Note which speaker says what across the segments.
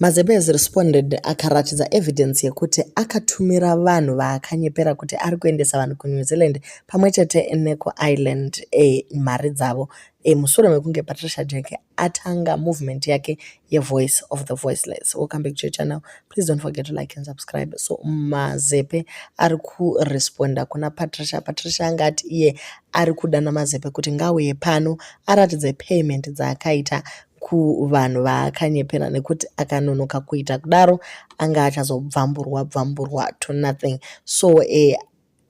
Speaker 1: Mazebes responded akaratidza evidence yekuti akatumira vanhu vaakanyepera kuti ari kuendesa vanhu kuNew Zealand pamwe chete nekuIreland e, mari dzavo e, mushure mekunge Patricia Jeke atanga movement yake yeVoice of the Voiceless. Welcome back to your channel. Please don't forget to like and subscribe. So Mazepe ari kuresponda kuna Patricia. Patricia anga ati iye ari kudana Mazepe kuti ngauye pano aratidze payment dzaakaita kuvanhu vaakanyepera nekuti akanonoka kuita kudaro anga achazobvamburwa bvamburwa to nothing so eh,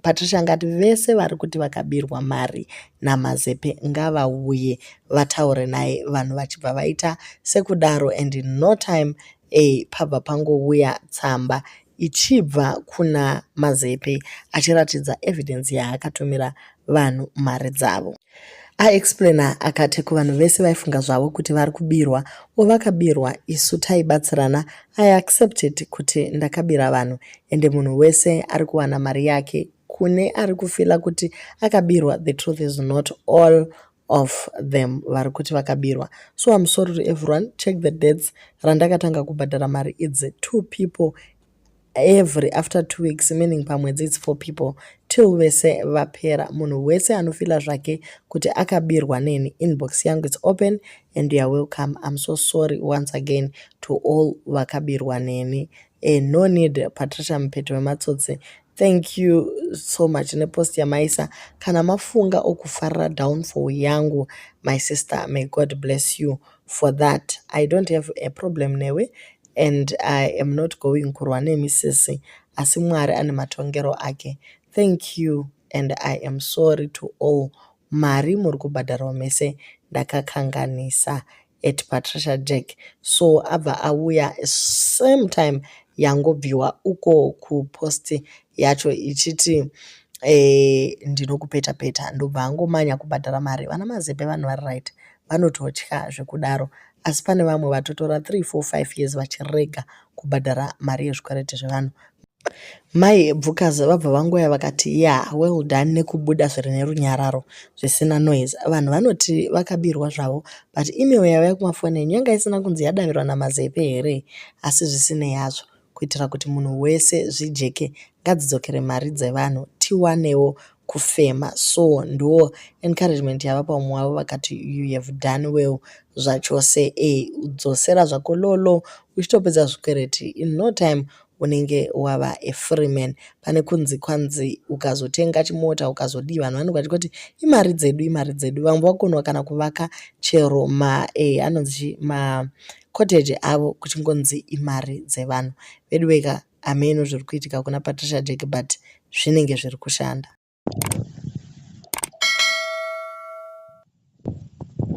Speaker 1: patricia angati vese vari kuti vakabirwa mari namazepe ngavauye vataure naye vanhu vachibva vaita sekudaro and no time eh, pabva pangouya tsamba ichibva kuna Mazepe achiratidza evidence yaakatumira vanhu mari dzavo. Aexplainer akati kuvanhu vese vaifunga zvavo kuti vari kubirwa or vakabirwa isu taibatsirana I accepted kuti ndakabira vanhu ende munhu wese ari kuwana mari yake kune ari kufila kuti akabirwa the truth is not all of them vari kuti vakabirwa so I'm sorry to everyone check the dates randakatanga kubhadhara mari idzi two people every after two weeks meaning pamwedzi it's four people till vese vapera munhu wese anofila zvake kuti akabirwa neni inbox yangu it's open and youare welcome im so sorry once again to all vakabirwa neni e, no need patricia mupeto wematsotsi Thank you so much nepost yamaisa kana mafunga okufarira downfall yangu my sister may God bless you for that I don't have a problem newe and I am not going kurwa nemi sisi asi Mwari ane matongero ake thank you and I am sorry to all mari muri kubhadharwa mese ndakakanganisa at Patricia Jack so abva auya same time yangobviwa uko kupost yacho ichiti eh, ndinokupeta peta ndobva angomanya kubhadhara mari vana mazepe vanhu vari right vanototya zvekudaro asi pane vamwe vatotora 3 4 5 years vachirega kubhadhara mari yezvikwereti zvevanhu Mai Ebvukazi vabva vangoya vakati yeah well done nekubuda zviri nerunyararo zvisina noise. Vanhu vanoti vakabirwa zvavo but email yaiva kumafoni enyu yanga isina kunzi yadavirwa naMazepe here? Asi zvisinei hazvo, kuitira kuti munhu wese zvijeke ngadzidzokere mari dzevanhu tiwanewo kufema so ndo encouragement yavapa umwe wavo vakati you have done well zvachose e dzosera zvako lolo uchitopedza zvikwereti in no time unenge wava a free man pane kunzi kwanzi ukazotenga chimota ukazodii vanhu vanenge vachiti kuti imari dzedu imari dzedu vamwe vakonwa kana kuvaka chero ma e anonzi ma cottage avo kuchingonzi imari dzevanhu veduweka hameno zviri kuitika kuna patricia jack but zvinenge zviri kushanda